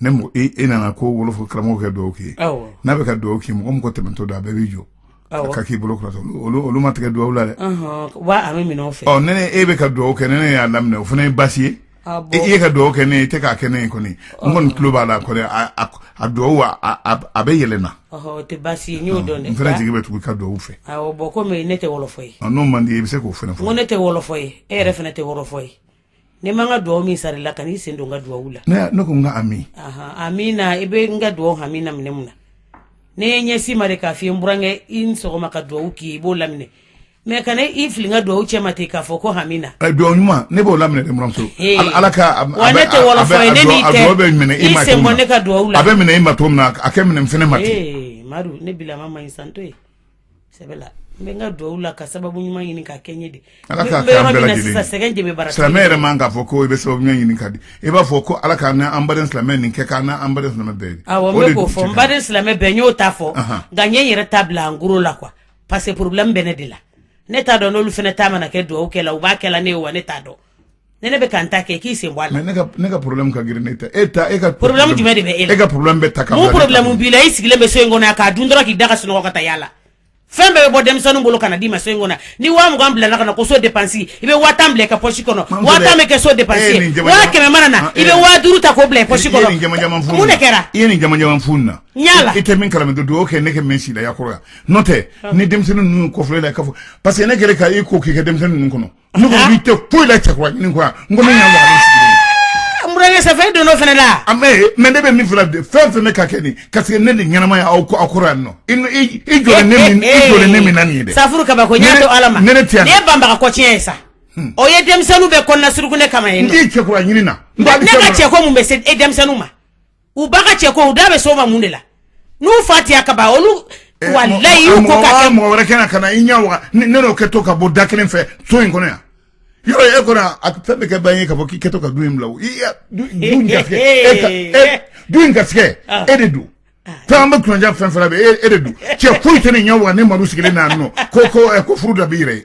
ne e nana ko wolof karamɔgɔkɛ dugawu kɛ n'a bɛ ka dugawu kɛ mɔgɔ mɔgɔ tɛmɛtɔ da a bɛɛ bɛ jɔ ka k'i bolo olu ma tigɛ dugawu la dɛ fɛ ne e bɛ ka dugawu kɛ ne ne y'a laminɛ o fana ye basi ye e ka dugawu kɛ ne e tɛ k'a kɛ ne ye kɔni n kɔni tulo b'a la a dugawu a bɛ yɛlɛna n fana jigi bɛ tugu ka dugawu fɛ bɔn ne tɛ wolof ye n'o man di i bɛ se k'o fɔ ne tɛ wolof ye e yɛrɛ fana tɛ wolof ye ne ma n ka dugawu min sara e la kana i sen don n ka dugawu la ne ko n ka ami amiina i bɛ n ka dugawu amiina minɛ mun na ne y'a ɲɛsin i ma de k'a fɔ n burankɛ i ni sɔgɔma ka dugawu k'i i b'o laminɛ mɛ kana i fili n ka dugawu cɛ ma ten k'a fɔ ko amiina dugawu ɲuman ne b'o laminɛ dɛ n buranmuso ala ka wa ne tɛ wɔlɔfɔ ye ne n'i tɛ bɛ minɛ i ma sen bɔ ne ka dugawu la a bɛ minɛ i ma cogo min na a ka minɛ n fɛnɛ ma ten madu ne bilama ma ɲi santo ye n ka dugawu la ka sababu ɲuman ɲini k'a kɛ an ye silamɛ yɛrɛ man kan k'a fɔ ko i bɛ sababu ɲini ka di i b'a fɔ ko ala ka an silamɛ nin kɛ k' an bɛɛ fɔ n baden silamɛ bɛn n y'o ta fɔ nka n ɲɛ yɛrɛ ta bila an la quoi parce que problème bɛ ne de la ne t'a dɔn n'olu fana ta mana kɛ dugawu kɛ la u b'a kɛ ne ye wa ne t'a dɔn ne ne bɛ ka n ta kɛ k'i sen bɔ a la. mais ne ka ne ka problème ka girin n'e ta ye. e ka problème jumɛn de bɛ e la e ka problème bɛ ta ka bila mun problème b'i la i sigilen bɛ so in kɔnɔ yan k'a dun dɔrɔn k'i da ka sunɔgɔ ka taa yaala fɛn bɛɛ bɛ bɔ denmisɛnninw bolo ka na d'i ma so in kɔnɔ ni waa mugan bilala ka na ko so dépense i bɛ waa tan bila i ka poche kɔnɔ waa tan bɛ kɛ so dépense ye waa kɛmɛ mana na ah, i bɛ waa duuru ta k'o bila i poche kɔnɔ mun de kɛra i ye nin jamajaman fu nin na n y'a la i tɛ min kalama don o kɛ ne kɛ min si la yakɔrɔ yan n'o tɛ ah. ni denmisɛnnin ninnu kɔfilɛ la i ka fɔ parce que ne kɛlen ka i ko k'i ka denmisɛnnin ninnu kɔnɔ Ne ko i tɛ foyi la cɛkura ɲini kɔ yan, n ko ne ɲɛ waga la i sigilen na. Aa burankɛ sa fo e donna o fana la. A ma ye mais ne de bɛ min f'i la dɛ fɛn o fɛn bɛ ka kɛ nin ka segin ne de ɲɛnamaya aw aw kɔrɔ yan nɔ. I nɔ i i jɔlen ne min i jɔlen ne min na nin ye dɛ. Safuru kabako n y'a to Ala ma. Ne ne tɛ yan. Nin ye banbaga kɔ tiɲɛ ye sa. O ye denmisɛnninw bɛɛ kɔnɔnasuruku ne kama yen nɔ. N t'i cɛkura ɲini na. Ne ka cɛko mun bɛ se e denmisɛnninw ma. u ba ka cɛ ko u da bɛ so ma mun de la n'u fa tiya ka ban olu eh, walayi y'u ko ka kɛ mɔgɔ wɛrɛ kana i ɲɛ waga ne n'o kɛtɔ ka bɔ da kelen fɛ so in kɔnɔ yan yɔrɔ e kɔnɔ a fɛn bɛ kɛ ban ye ka fɔ k'i kɛtɔ ka du in bila o i du in garisɛgɛ e ka e du in garisɛgɛ ah. e de don ah. fɛn an bɛ kunnadiya fɛn fɛn bɛ e de don cɛ foyi tɛ ne ɲɛ waga ne madu sigilen n'a nɔ ko ko eh, ko furu da b'i yɛrɛ ye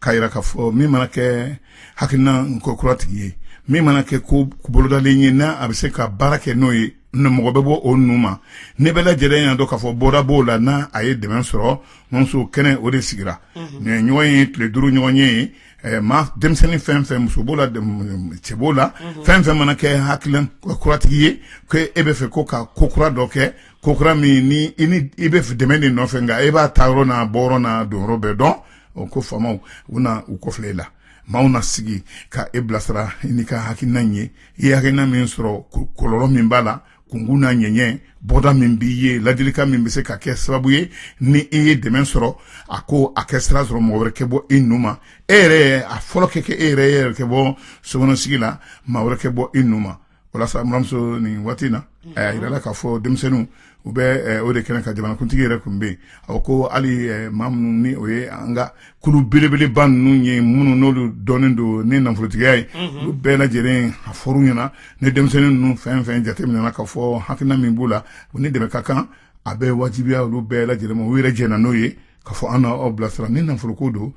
k'a jira k'a fɔ min mana kɛ hakilina ko kura tigi ye min mana kɛ ko bolodalen ye n'a a bɛ se ka baara kɛ n'o ye mɔgɔ bɛ bɔ o nun ma an bɛɛ lajɛlen y'a dɔn k'a fɔ bɔda b'o la n'a a ye dɛmɛ sɔrɔ muso kɛnɛ o de sigira nin ɲɔgɔn ye tile duuru ɲɔgɔn ye maa denmisɛnnin fɛn fɛn muso b'o la cɛ b'o la fɛn fɛn mana kɛ hakilina kuratigi ye ko e bɛ fɛ ko ka ko kura dɔ kɛ ko kura min ni i bɛ dɛmɛ de nɔfɛ nka e b'a ta yɔrɔ n'a bɔ yɔrɔ n'a don yɔrɔ bɛɛ dɔn o ko faamaw u na u kɔfilɛ i la maaw na sigi ka e bilasira n'i ka hakilina ye i ye hakilina min sɔrɔ kɔlɔlɔ min b'a la kunkun n'a ɲɛɲɛ bɔda min b'i ye ladilikan min bɛ se ka kɛ sababu ye ni i ye dɛmɛ sɔrɔ a ko a kɛ sira sɔrɔ mɔgɔ wɛrɛ kɛ bɔ i nu ma e yɛrɛ a fɔlɔ kɛ kɛ e yɛrɛ e yɛrɛ kɛ bɔ sokɔnɔsigi la maa wɛrɛ kɛ bɔ i nu ma walasa muramuso nin waati na a yirala k'a fɔ denmisɛnninw u bɛ o de kɛnɛ kan jamanakuntigi yɛrɛ tun bɛ yen a ko hali maa minnu ni o ye an ka kulu belebeleba ninnu ye minnu n'olu dɔnnen don ni nafolotigiya ye olu bɛɛ lajɛlen a fɔr'u ɲɛna ni denmisɛnnin ninnu fɛn fɛn jateminɛna k'a fɔ hakilina min b'u la o ni dɛmɛ ka kan a bɛ wajibiya olu bɛɛ lajɛlen u yɛrɛ jɛna n'o ye k'a fɔ an n'aw bilasira ni nafolo ko don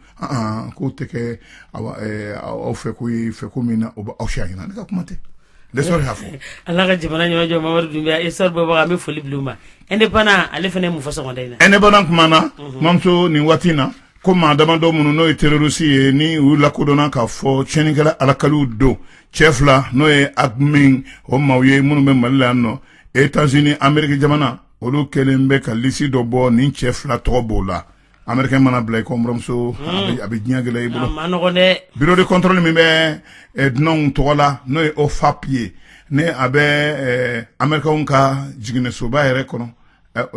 k'o tɛ kɛ aw fɛ ko ye fɛ ko min na o aw fɛ ɲɛna ne ka kuma tɛ y'a fɔ ala ka jamana ɲɛmajɔ mamari dun e sari baba an bɛ foli bila u ma indépendant ale fana mun fɔ sɔgɔmada in na indépendant kumana mamuso nin waati in na ko maa damadɔ minnu n'o ye terorisi ye ni u lakodɔnna k'a fɔ tiɲɛnikɛla alakaliw don cɛ fila n'o ye aqmi o maaw ye minnu bɛ mali la yan nɔ états-unis ameriki jamana olu kɛlen bɛ ka lisi dɔ bɔ ni cɛ fila tɔgɔ b'o la amerikɛn mana bila i kɔ buramuso a bɛ diɲɛ gɛlɛya i bolo bureau de contrôle min bɛ dunanw tɔgɔ la n'o ye ofap ye ni a bɛ amerikɛnw ka jiginɛsoba yɛrɛ kɔnɔ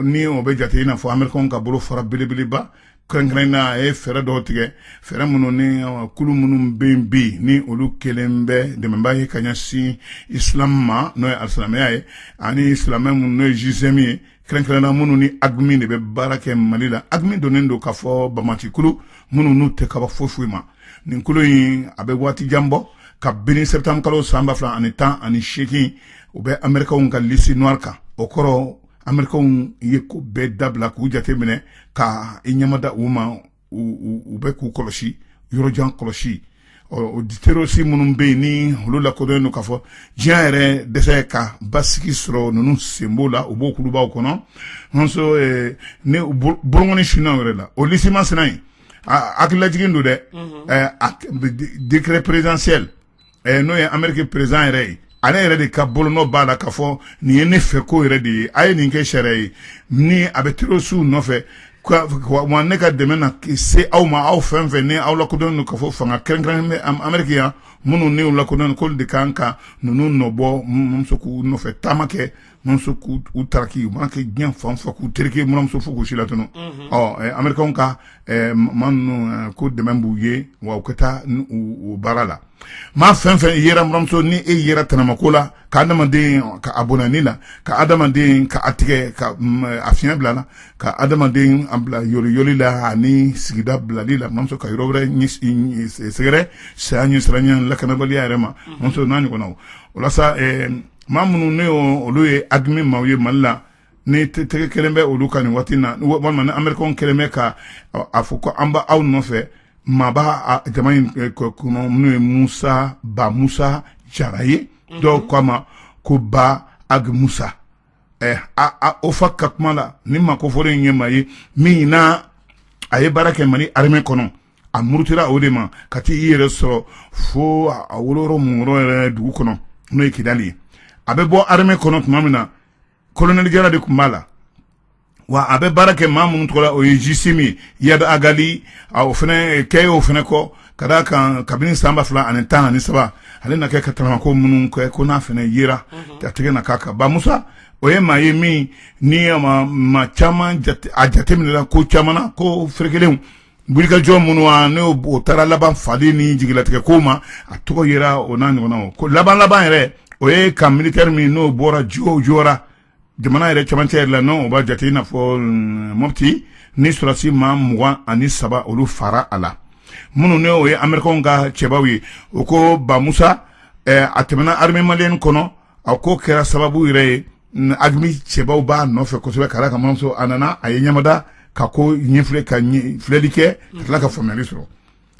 ni o bɛ jate i n'a fɔ amerikɛnw ka bolofara belebeleba kɛrɛnkɛrɛnnen na a ye fɛɛrɛ dɔw tigɛ fɛɛrɛ minnu ni kulu minnu bɛ bɛ yen ni olu kɛlen bɛ dɛmɛba ye ka ɲɛsin islam ma n'o ye alisilamɛya ye ani silamɛ minnu n'o ye gsim ye kɛrɛnkɛrɛnna minnu ni aqmi de bɛ baara kɛ mali la aqmi dɔnnen don k'a fɔ banbaanci kulu minnu n'u tɛ kaba foyi foyi ma nin kulu in a bɛ waati jan bɔ kabini septembre kalo san ba fila ani tan ani seegin u bɛ amerikɛnw ka liste noire kan o kɔrɔ amerikɛnw ye ko bɛɛ dabila k'u jate minɛ ka i ɲɛmada u ma u bɛ k'u kɔlɔsi yɔrɔjan kɔlɔsi o terorisi minnu bɛ yen ni olu lakodɔnnen don k'a fɔ diɲɛ yɛrɛ dɛsɛ ka basigi sɔrɔ ninnu sen b'o la u b'o kulubaw kɔnɔ nso ni bolokɔni sinna u yɛrɛ la o lisi masina in a hakililajigin don dɛ décret présidentiel ɛ n'o ye ameriki perezidan yɛrɛ ye ale yɛrɛ de ka bolonɔ b'a la k'a fɔ nin ye ne fɛ ko yɛrɛ de ye a ye nin kɛ sariya ye ni a bɛ terorisiw nɔfɛ wa ne ka dɛmɛ na se aw ma aw fɛn fɛn ni aw lakodɔnnen don k'a fɔ fanga kɛrɛnkɛrɛn bɛ ameriki yan minnu ni u lakodɔnnen k'olu de kan ka ninnu nɔbɔ muso k'u nɔfɛ taama kɛ muso k'u taraki u mana kɛ diɲɛ fan fɛ k'u terikɛ muso fo k'u si latunu amerikɛnw ka maa ninnu ko dɛmɛ b'u ye wa u ka taa u baara la maa fɛn fɛn yera muso ni e yera tɛnɛmako la ka adamaden ka a bɔnɛ a ni la ka adamaden ka a tigɛ ka a fiɲɛ bila la ka adamaden bila yoli la ani sigida bilali la muso ka yɔrɔ wɛrɛ sɛgɛrɛ saya ɲɛsiranɲɛ lakanabaliya yɛrɛ ma muso n'a ɲɔgɔnnaw o la sa maa minnu ne olu ye AQMI maaw ye mali la ni tɛgɛ kɛlen bɛ olu kan nin waati na walima ni amerikɛn kɛlen bɛ ka a fɔ ko an b' aw nɔfɛ maa b'a jama in kɔnɔ minnu ye musa ba musa jara ye dɔw ko a ma ko ba ag musa o fa ka kuma la ni maa kofɔlen in ye maa ye min na a ye baara kɛ mali armée kɔnɔ a murutila o de ma ka taa i yɛrɛ sɔrɔ fo a wolola min yɛrɛ dugu kɔnɔ n'o ye kidali ye a bɛ bɔ armée kɔnɔ tuma min na kolonɛli jala de tun b'a la wa a bɛ baara kɛ maa minnu tɔgɔ la o ye GSIM ye iyad ag ali o fana kɛ o fana kɔ ka d'a kan kabini san ba fila ani tan ani saba ale na kɛ ka tɛnɛmako minnu kɛ ko n'a fana yera ka tɛgɛ d'a kan ba musa o ye maa ye min ni maa caman a jateminɛla ko caman ko ferekelen wulikajɔ minnu wa n'o taara laban fali ni jigilatigɛ ko ma a tɔgɔ yera o n'a ɲɔgɔnnaw ko laban laban yɛrɛ o ye kan militɛri min n'o bɔra jo jora jamana yɛrɛ camancɛ yɛrɛ la n'o b'a jate i n'a fɔ mm, mopti ni sɔrɔsi maa mugan ani saba olu faara a la minnu ne o ye amerikanw ka cɛbaw ye o ko ba musa eh, a tɛmɛna armée malienne kɔnɔ a ko kɛra sababu yɛrɛ ye AQMI cɛbaw b'a nɔfɛ kosɛbɛ ka d'a kan manso a nana a ye ɲamada ka ko ɲɛfilɛ ka filɛli kɛ ka tila ka faamuyali sɔrɔ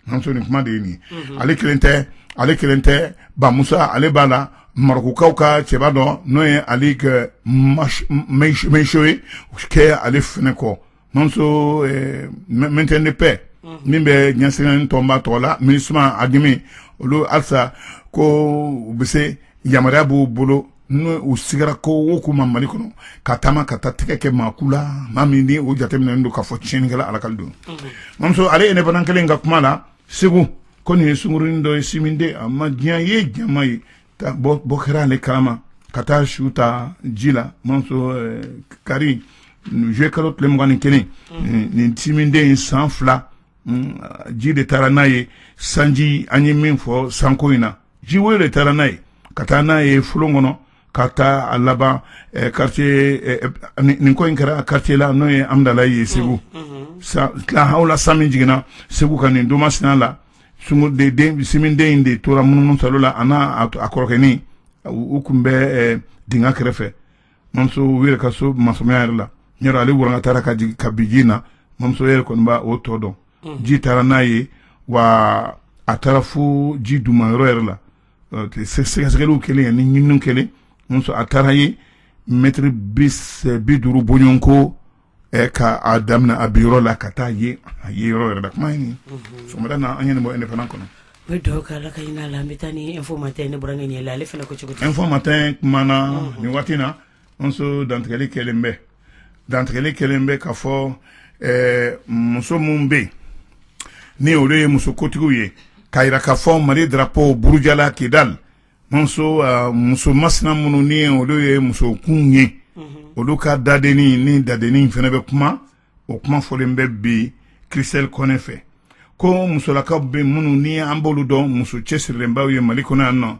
muso nin kuma de ye nin ale kelen tɛ ale kelen tɛ ba musa ale b'a la marɔkukaw ka cɛba dɔ n'o ye ali ag mayisho ye kɛ ale fɛnɛ kɔ Manso maintien de paix min bɛ diɲɛ seleke naani tɔnba tɔgɔ la minusma AQMI olu halisa ko u bɛ se yamaruya b'u bolo n'o u sigara ko o ko ma mali kɔnɔ ka taama ka taa tɛgɛ kɛ maa kun la maa min ni o jateminɛnen don k'a fɔ tiɲɛnikɛla lakika don manso ale indépendant kelen ka kuma la segu ko nin ye sungurunin dɔ ye sinminden a ma diya yen jama ye ka bɔ bɔ kɛra ale kalama ka taa su ta ji la mamuso eh, kari zuye kalo tile mugan ni kelen mm, nin sinminden in san fila mm, ji de taara n'a ye sanji an ye min fɔ sanko in na ji woyo de taara n'a ye ka taa n'a ye folon kɔnɔ ka taa a laban eh, quartier eh, eh, nin nin ko in kɛra quartier la n'o ye amdalayi segu sa tila hawla san min jiginna segu ka nin doma sinan la siminden in de tora munumunu saalo la a n'a kɔrɔkɛnin u tun bɛ dingɛ kɛrɛfɛ mamuso yɛrɛ ka so masurunya yɛrɛ la yɔrɔ ale walankatara ka bin ji na mamuso yɛrɛ kɔni b' o tɔ dɔn ji taara n'a ye wa a taara fo ji dun yɔrɔ yɛrɛ la sɛgɛsɛgɛliw kɛlen ye ni ɲininiw kɛlen a taara ye mɛtiri bi duuru bɔɲɔgɔn ko ɛ ka a daminɛ a bin yɔrɔ la ka taa ye a ye yɔrɔ yɛrɛ la kuma in sɔgɔmada na an ye nin bɔ indépendant kɔnɔ o ye duwawu kɛ ala ka hinɛ a la an bɛ taa info matin ne burankɛ ɲɛ la ale fana ko cogo di info matin kumana nin waati na mamuso dantigɛli kɛlen bɛ dantigɛli kɛlen bɛ ka fɔ muso minnu bɛ yen ni olu ye muso kotigiw ye ka jira ka fɔ mali drapo burujala kidali mamuso muso masina minnu ni olu ye musokun ye olu ka dadenni ni dadennin fana bɛ kuma o kuma fɔlen bɛ bi christelle kɔnɛ fɛ ko musolakaw bɛ minnu ni an b'olu dɔn muso cɛsirilenbaw ye mali kɔnɔ yan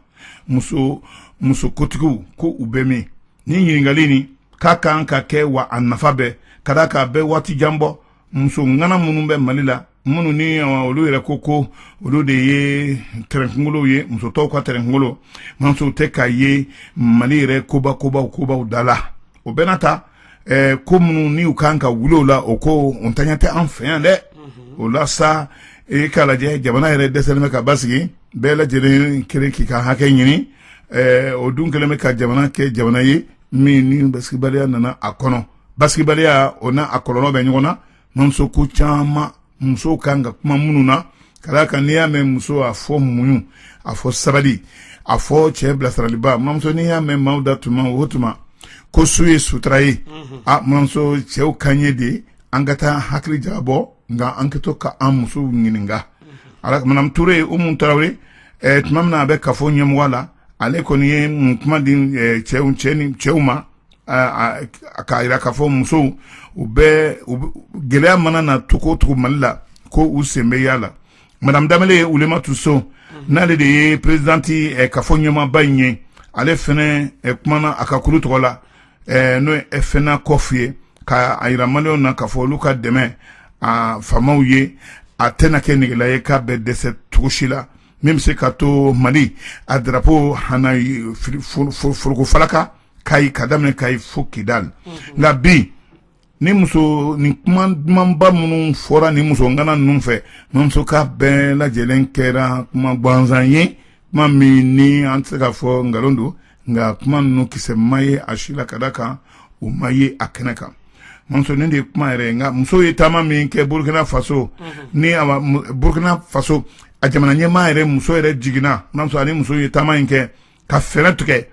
mamuso muso kotigiw ko u bɛ min ni ɲininkali nin k'a kan ka kɛ wa a nafa bɛ ka d'a kan a bɛ waati jan bɔ muso ŋana minnu bɛ mali la minnu ni olu yɛrɛ ko ko olu de ye tɛrɛnkungolow ye muso tɔw ka tɛrɛnkungolo mamuso u tɛ ka ye mali yɛrɛ koba kobaw kobaw da la o bɛɛ n'a ta ko minnu ni u kan ka wuli o la o ko ntanya tɛ an fɛ yan dɛ o la sa e k'a lajɛ jamana yɛrɛ dɛsɛlen bɛ ka basigi bɛɛ lajɛlen kelen k'i ka hakɛ ɲini o dun kɛlen bɛ ka jamana kɛ jamana ye min ni basigibaliya nana a kɔnɔ basigibaliya o n'a a kɔlɔlɔ bɛ ɲɔgɔn na mamuso ko caman musow ka kan ka kuma minnu na ka d'a kan n'i y'a mɛn muso a fɔ muɲu a fɔ sabali a fɔ cɛ bilasiraliba mamuso n'i y'a mɛn maaw da tuma o tuma ko su ye sutura ye a mamuso cɛw ka ɲɛ de ye an ka taa hakili jagabɔ nka an ka to ka an musow ɲininka a la madame ture umu tarawele eh, tuma min na a bɛ kafo ɲɛmɔgɔ la ale kɔni ye mun kuma di eh, cɛw cɛ ni cɛw ma k'a jira k'a fɔ musow u bɛ gɛlɛya mana na tugu mali la ko u sen bɛ a la madamu danbele ulematu so n'ale de ye perezidanti kafo ɲɛmaaba in ye ale fana kumana a ka kulu tɔgɔ la n'o ye fenakɔfu ye ka a jira maliyɛnw na ka fɔ olu ka dɛmɛ a faamaw ye a tɛna kɛ negela ye k'a bɛ dɛsɛ cogo si la min bɛ se ka to mali a drapo hana foroko falaka ka ka daminɛ kayi fo kidali nka bi ni muso ni kuma dumanba minnu fɔra ni muso ŋana ninnu fɛ mamuso ka bɛɛ lajɛlen kɛra kuma gansan ye kuma min ni an tɛ se k'a fɔ nkalon don nka kuma ninnu kisɛ ma ye a si la ka d'a kan u ma ye a kɛnɛ kan muso nin de ye kuma yɛrɛ nka muso ye taama min kɛ burukina faso ni burukina faso a jamana ɲɛmaa yɛrɛ muso yɛrɛ jiginna a sɔrɔ ni muso ye taama in kɛ ka fɛɛrɛ tigɛ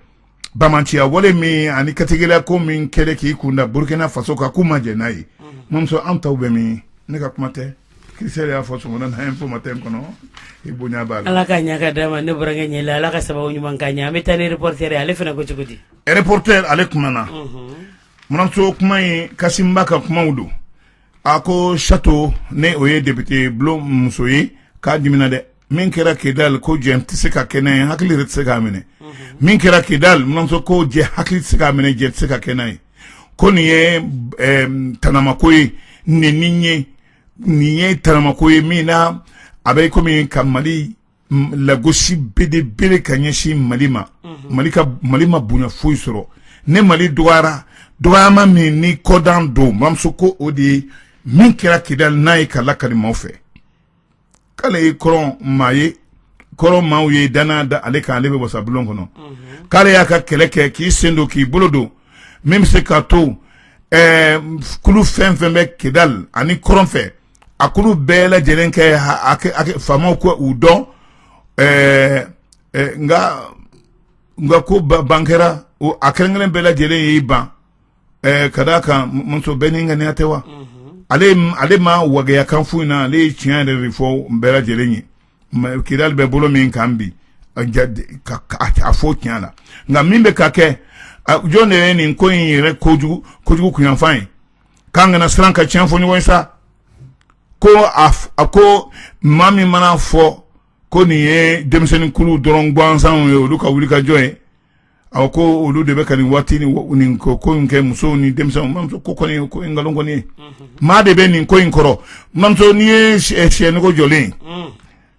banbaanciya wale min ani kantigɛla ko min kɛlen k'i kun da burukina faso kan k'u ma jɛn n'a ye mamuso an taw bɛ min ne ka kuma tɛ christelle y'a fɔ sɔgɔma na info matin kɔnɔ i bonya b'a ala ka ɲaga d'a ma ne burankɛ ɲɛ ala ka sababu ɲuman k'a ɲɛ an bɛ taa ni reporter ye ale fana ko cogo di reporter ale kumana muso kuma ye kasimba ka kumaw don a ko sato ne o ye depite bulon muso ye k'a dimina dɛ min kɛra kidali ko jɛ tɛ se ka kɛnɛ ye hakili yɛrɛ tɛ se k'a minɛ min kɛra kidali muso ko jɛ hakili tɛ se k'a minɛ jɛ tɛ se ka kɛnɛ ye ko nin ye tanamako ye nin ye nin ye tanamako ye min na a bɛ kɔmi ka mali lagosi belebele ka ɲɛsin mali ma mali ma bonya foyi sɔrɔ ne mali dɔgɔyara dɔgɔyama min ni kɔdan don mamuso ko o de ye min kɛra kidali n'a ye k'a lakali maaw fɛ k'ale ye kɔrɔn maa ye kɔrɔn maaw ye dana da ale kan ale bɛ wasa bulon kɔnɔ k'ale y'a ka kɛlɛ kɛ k'i sen don k'i bolo don min bɛ se k'a to kulu fɛn fɛn bɛ kidali ani kɔrɔn fɛ a kulu bɛɛ lajɛlen kɛ faama ko u dɔn nka ko ban kɛra a kelen kelen bɛɛ lajɛlen y'i ban ka d'a kan muso bɛɛ n'i ŋaniya tɛ wa ale ma waya foyi in na ale ye tiɲɛ yɛrɛ de fɔ n bɛɛ lajɛlen ye kidali bɛ bolo min kan bi a fɔ tiɲɛ la nka min bɛ ka kɛ jɔn de ye nin ko in yɛrɛ kojugu kunyanfan ye k'an kana siran ka tiɲɛ fɔ ɲɔgɔn ye sa ko a ko maa min mana fɔ ko nin ye denmisɛnninkulu dɔrɔn gansanw ye olu ka wulikajɔ ye awa ko olu de bɛ ka nin waati ni ko in kɛ musow ni denmisɛnw mamuso ko kɔni ko nkalon kɔni ye maa de bɛ nin ko in kɔrɔ mamuso n'i ye sɛnɛko jɔlen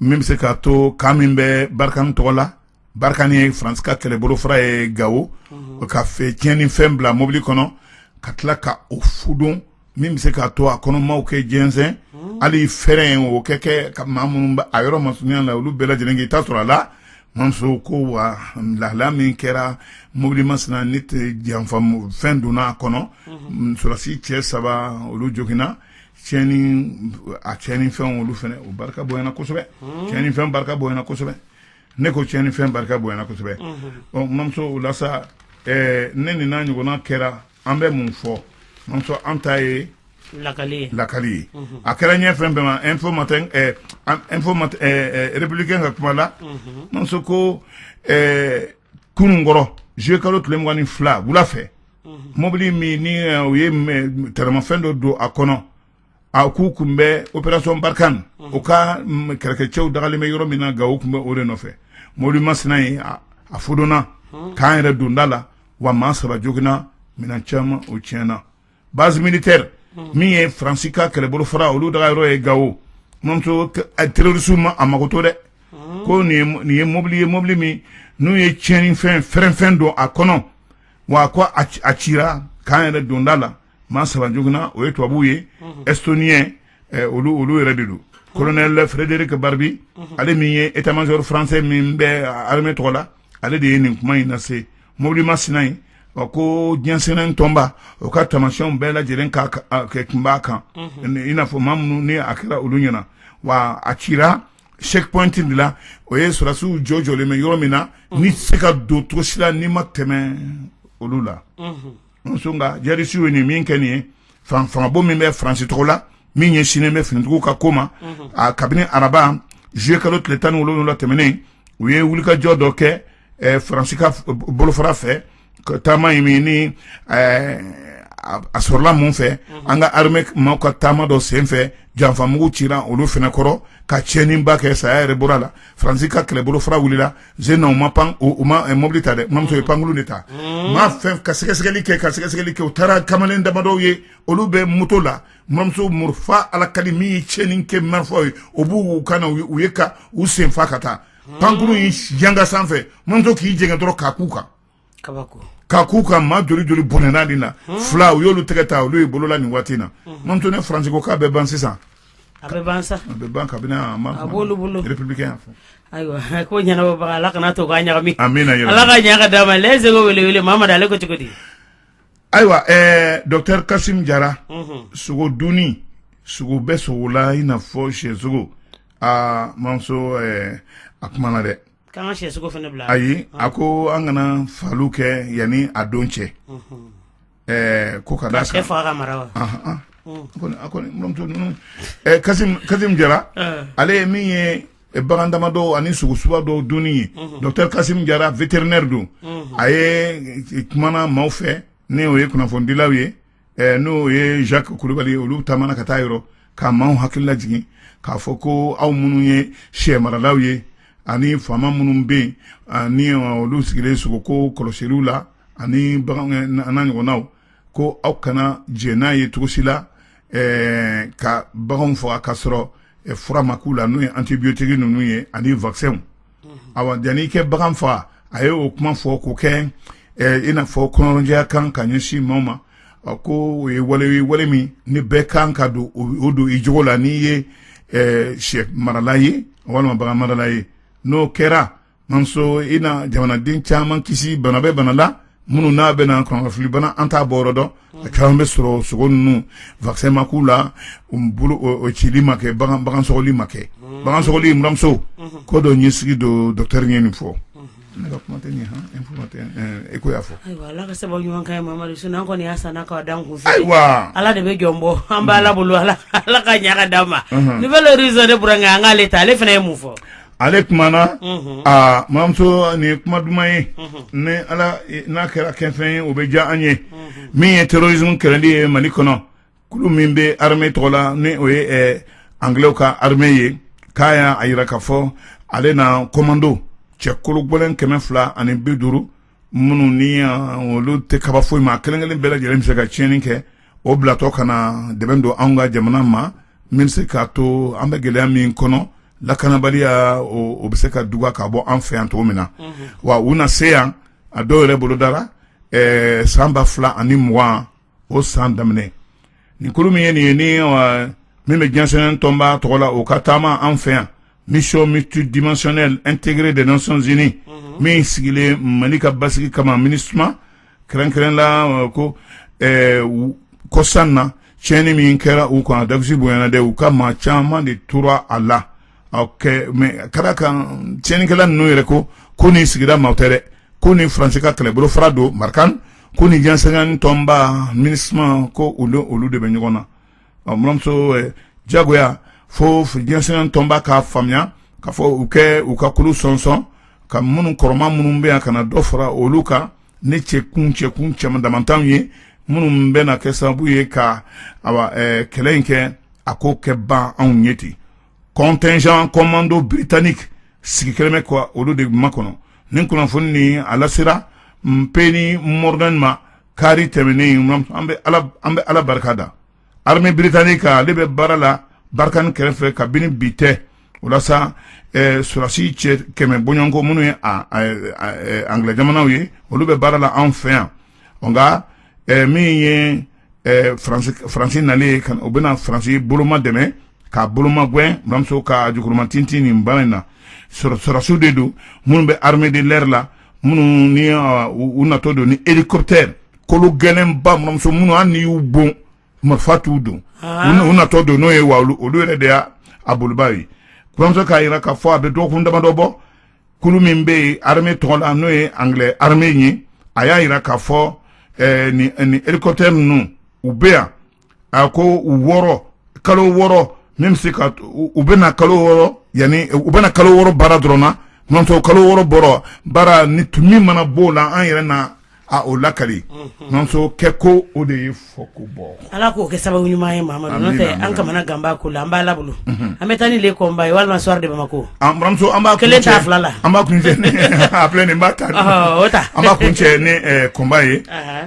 min bɛ se k'a to kan min bɛ barikani tɔgɔ la barikani ye faransi ka kɛlɛbolofara ye gawo o ka fɛ tiɲɛni fɛn bila mobili kɔnɔ ka tila ka o fudon min bɛ se k'a to a kɔnɔmaw ka jɛnsɛn hali fɛrɛɛrɛ in o kɛ kɛ ka maa minnu bɛ a yɔrɔ masurunya la olu bɛɛ lajɛlen k'i ta sɔrɔ a la mamuso ko wa lahala min kɛra mobili masina ne tɛ janfa fɛn donna a kɔnɔ sɔrɔdasi cɛ saba olu joginna a tiɲɛni fɛn olu fana o barika bonyana kosɛbɛ tiɲɛni fɛn barika bonyana kosɛbɛ ne ko tiɲɛni fɛn barika bonyana kosɛbɛ ɔ mamuso o la sa ne nin n'a ɲɔgɔnna kɛra an bɛ mun fɔ mamuso an ta ye lakali ye a kɛra ɲɛ fɛn bɛɛ ma info républicain ka kuma la mamuso ko kununkɔrɔ zuye kalo tile mugan ni fila wula fɛ mɔbili min ni eh, u ye m- taramafɛn dɔ don a kɔnɔ a k'u kun bɛ operasɔn barikani u ka mm, kɛlɛkɛcɛw dagalen bɛ yɔrɔ min na Gao u kun bɛ o de nɔfɛ mɔbili masina ye a a fodonna camp yɛrɛ donda la wa maa saba joginna minɛn caman o tiɲɛna base militaire min ye France ka kɛlɛbolo fara olu daga yɔrɔ ye Gao mamuso terroriste ma a mako to dɛ ko nin ye mo- nin ye mobili ye mobili min n'u ye tiɲɛni fɛn fɛrɛnfɛn don a kɔnɔ wa ko a ci- a cira camp yɛrɛ donda la maa saba joginna o ye tubabuw ye estoniyɛn eh, olu olu yɛrɛ de don colonel frédéric barbry ale min ye état major français min bɛ armée tɔgɔ la ale de ye nin kuma in lase mobili ma sina yen wa ko diɲɛ seleke naani tɔnba o ka tamasiyɛnw bɛɛ lajɛlen kɛ kun b'a kan i n'a fɔ maa minnu ni a kɛra olu ɲɛna wa a cira checkpoint de la o ye sɔrɔdasiw jɔ jɔlen bɛ yɔrɔ min na ni se ka don cogo si la n'i ma tɛmɛ olu la muso nka jihadisiw ye nin min kɛ nin ye fangabo min bɛ faransi tɔgɔ la min ɲɛsinnen bɛ finitigiw ka ko ma a kabini araba zuye kalo tile tan ni wolowula tɛmɛnen u ye wulikajɔ dɔ kɛ faransi ka bolofara fɛ taama in min ni a sɔrɔla mun fɛ an ka arame maaw ka taama dɔ senfɛ janfamugu cira olu fana kɔrɔ ka tiɲɛniba kɛ saya yɛrɛ bɔra la faransi ka kɛlɛbolo fara wulila sen na u ma mobili ta dɛ mamuso u ye pankulu de ta maa fɛn ka sɛgɛsɛgɛli kɛ ka sɛgɛsɛgɛli kɛ u taara kamalen damadɔ ye olu bɛ moto la mamuso murufa alakali min ye tiɲɛni kɛ marifa ye o b'u kan na u ye ka u sen fa ka taa pankuru in janga sanfɛ mamuso k'i jɛngɛ dɔrɔn k'a k'u kan k'a k'u kan maa joli joli bɔnɛna nin na fila u y'olu tɛgɛ ta olu ye bolola nin waati na mamuso ne faransi ko k'a bɛ ban sisan a bɛ ban ayiwa ko ɲɛnabɔbaga ala kana to ala ka ɲa ka d'a ma se wele ma ale ko cogo di ayiwa docteur kasim jara sogo dunni sogo bɛ sogo la i n'a fɔ sɛsogo mamuso a kumana dɛ K'an ka sɛsogo fana bila ayi a ko an kana fagali kɛ yanni a don cɛ ɛɛ ko ka sɛ faga ka mara wa kasim jara ale ye min ye bagan damadɔ ani sogo suba dɔw dunni ye docteur kasim jara vétérinaire don a ye kumana maaw fɛ n'o ye kunnafonidilaw ye ɛ n'o ye jacques kulubali olu taamana ka taa yɔrɔ ka maaw hakili lajigin k'a fɔ ko aw minnu ye sɛ maralaw ye ani faama minnu bɛ yen ani olu sigilen sogo ko kɔlɔsiliw la ani bagan n'a ɲɔgɔnnaw ko aw kana jɛ n'a ye cogo si la ɛɛ ka baganw faga ka sɔrɔ fura ma k'u la n'o ye antibiyotiki ninnu ye ani wakisɛnw awa yanni i kɛ bagan faga a ye o kuma fɔ ko kɛ i n'a fɔ kɔnɔnajɛya kan ka ɲɛsin maaw ma ko o ye wale ye wale min ni bɛɛ kan ka don o don i jogo la n'i ye sɛ marala ye walima bagan marala ye n'o kɛra mamuso i na jamanaden caman kisi bana bɛ bana la minnu n'a bɛna kɔnɔnafili bana an t'a bɔ yɔrɔ dɔn a caman bɛ sɔrɔ sogo ninnu vaccin ma k'u la o cili ma kɛ bagan sɔgɔli ma kɛ bagan sɔgɔli muramuso ko dɔ ɲɛsigi don docteur ye nin fɔ ne ka kuma tɛ e ko y'a fɔ ala ka sababu ɲuman an kɔni y'a san k'a d'an kun ayiwa ala de bɛ jɔn bɔ an b'a ala bolo ala ala ka ɲaga d'an ma nouvel horizon ne b'a kɛ an k'ale ta ale fana ye mun fɔ ale kumana aa mamuso nin ye kuma duman ye ni ala n'a kɛra kɛfɛn ye o bɛ diya an ye min ye terrorisme kɛlɛli ye mali kɔnɔ kulu min bɛ armée tɔgɔ la ni o ye angilɛw ka armée ye k'a y'a a jira k'a fɔ ale na komando cɛ kologɛlɛn kɛmɛ fila ani bi duuru minnu ni olu tɛ kaba foyi ma kelenkelen bɛɛ lajɛlen bɛ se ka tiɲɛni kɛ o bilatɔ ka na dɛmɛ don an ka jamana ma min se k'a to an bɛ gɛlɛya min kɔnɔ lakanabaliya o bɛ se ka duga k'a bɔ an fɛ yan cogo min na wa u na se yan a dɔw yɛrɛ bolodara san ba fila ani mugan o san daminɛ nin kulu min ye nin ye ni min bɛ diɲɛsɛnɛ tɔnba tɔgɔ la o ka taama an fɛ yan mission multidimensionnelle intégrée des nations unies min sigilen mali ka basigi kama minusma kɛrɛnkɛrɛn la ko kɔsan na tiɲɛni min kɛra u kan a dasi bonyana dɛ u ka maa caman de tora a la mais ka kan tiɲɛnikɛla ninnu yɛrɛ ko ko nin sigida maa tɛ dɛ ko ni faransi ka kɛlɛbolo fara don barkhane ko ni diɲɛsɛnɛ tɔnba minusma ko olu olu de bɛ ɲɔgɔn na muramuso jagoya fo diɲɛsɛnɛ tɔnba k'a faamuya k'a fɔ u kɛ u ka kulu sɔnsɔn ka minnu kɔrɔma minnu bɛ yan ka na dɔ fara olu kan ne cɛkun cɛkun cɛ damanw ye minnu bɛ na kɛ sababu ye ka kɛlɛ in kɛ a ko kɛ ban anw ɲɛ ten contingent commando britannique sigi kɛlen bɛ ka olu de makɔnɔ ni kunnafoni ni a lasera penny mordaunt ma kari tɛmɛnen an bɛ ala barika da armée britannique ale bɛ baara la barkhane kɛrɛfɛ kabini bi tɛ walasa sɔrasi cɛ kɛmɛ bɔɲɔgɔnko minnu ye anglais jamanaw ye olu bɛ baara la an fɛ yan nka min ye faransi nalen ko u bɛna faransi boloma dɛmɛ k'a bolomagɛn mamuso ka jukɔrɔmatintinniba in na sɔrɔdasiw de don minnu bɛ armée de l'air la minnu ni u natɔ don ni hélicoptère kolo gɛlɛnba mamuso minnu hali n'i y'u bon marifa t'u don u natɔ don n'o ye wa olu yɛrɛ de y'a bolibaa ye mamuso k'a jira k'a fɔ a bɛ dɔgɔkun damadɔ bɔ kulu min bɛ yen armée tɔgɔ la n'o ye anglais armée ye a y'a jira k'a fɔ ɛɛ nin nin hélicoptère ninnu u bɛ yan a ko u wɔɔrɔ kalo wɔɔrɔ min bɛ se ka u bɛ na kalo wɔɔrɔ yanni u bɛ na kalo wɔɔrɔ baara dɔrɔn na mamuso kalo wɔɔrɔ bɔra baara ni min mana b'o la an yɛrɛ na a o lakali mamuso kɛko o de ye fɔko bɔ ala k'o kɛ sababu ɲuman ye mamadu an kamanagan b'a ko la an b'a la bolo an bɛ taa ni le combat ye walima soir de bamako mamuso an b'a kelen ta fila la an b'a kun filɛ nin ba ta an b'a kuncɛ ni combat ye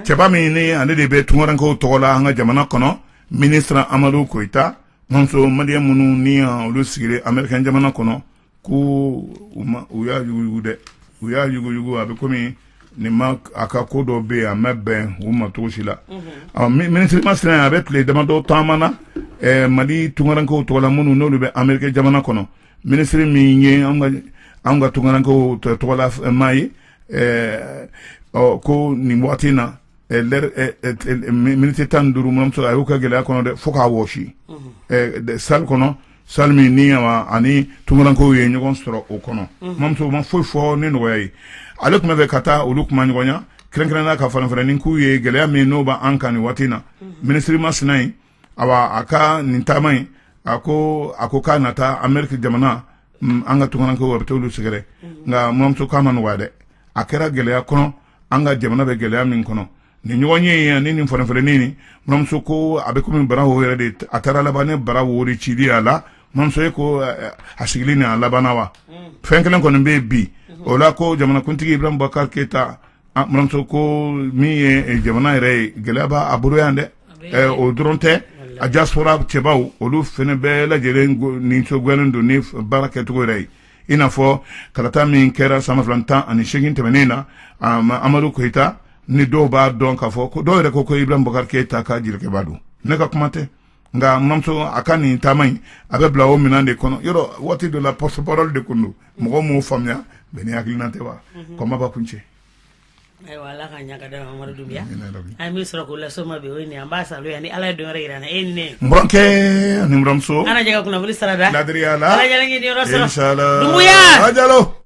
cɛba min ni ale de bɛ tunkarankew tɔgɔ la an ka jamana kɔnɔ minisiri amadu koyita mamuso maliyɛn minnu ni olu sigilen ameriki jamana kɔnɔ ko u y'a yuguyugu dɛ u y'a yuguyugu a bɛ kɔmi nin ma a ka ko dɔ bɛ yen a ma bɛn u ma cogo si la minisiri masina a bɛ tile damadɔ taama na mali tunkarankew tɔgɔ la minnu n'olu bɛ ameriki jamana kɔnɔ minisiri min ye an ka tunkarankew tɔgɔla maa ye ko nin waati in na miniti tan ni duuru mamuso a y'o kɛ gɛlɛya kɔnɔ dɛ fo k'a wɔsi salle kɔnɔ salle min ni a ni tunkarankew ye ɲɔgɔn sɔrɔ o kɔnɔ mamuso ma foyi fɔ ni nɔgɔya ye ale tun b'a fɛ ka taa olu kumaɲɔgɔnya kɛrɛnkɛrɛnnenya ka fanafɛ ni k'u ye gɛlɛya min n'o b' an kan nin waati na minisiri masina in a a ka nin taama in a ko a ko k'a na taa ameriki jamana an ka tunkarankew a bɛ taa olu sɛgɛrɛ nka mamuso k'a ma nɔgɔya dɛ a kɛra gɛlɛya kɔnɔ an ka jamana bɛ gɛlɛya min kɔnɔ nin ɲɔgɔnye ani nin fɔnfɛnin nin mamuso ko a bɛ kɔmi bara yɛrɛ de a taara laban ne bara wari cidi a la mamuso ye ko a sigilen nin a laban wa fɛn kelen kɔni bɛ bi o la ko jamanakuntigi iburahima bubakari keyita mamuso ko min ye jamana yɛrɛ ye gɛlɛya b'a bolo yan dɛ o dɔrɔn tɛ a diaspora cɛbaw olu fana bɛɛ lajɛlen nisɔngoyalen don ni baara kɛcogo yɛrɛ ye i n'a fɔ kalata min kɛra san ba fila tan ani segin tɛmɛnen na amadu koyita ni dɔw b'a dɔn k'a fɔ ko dɔw yɛrɛ ko ko iburahima bubakari keyita ka jelikɛba don ne ka kuma tɛ nka mamuso a ka nin taama in a bɛ bila o minɛn de kɔnɔ yɔrɔ waati dɔ la porte-parole de tun don mɔgɔ m'o faamuya bɛɛ ni hakilina tɛ wa combat b'a kuncɛ Ayiwa ala ka ɲaga da amadu dunbiya an bɛ sɔrɔ k'o las'o ma bi o ye nin an b'a sa yan ni ala ye don wɛrɛ jira an na e ni ne burankɛ ni buranmuso an na jɛ ka kunnafoni sara da laadiriya la salo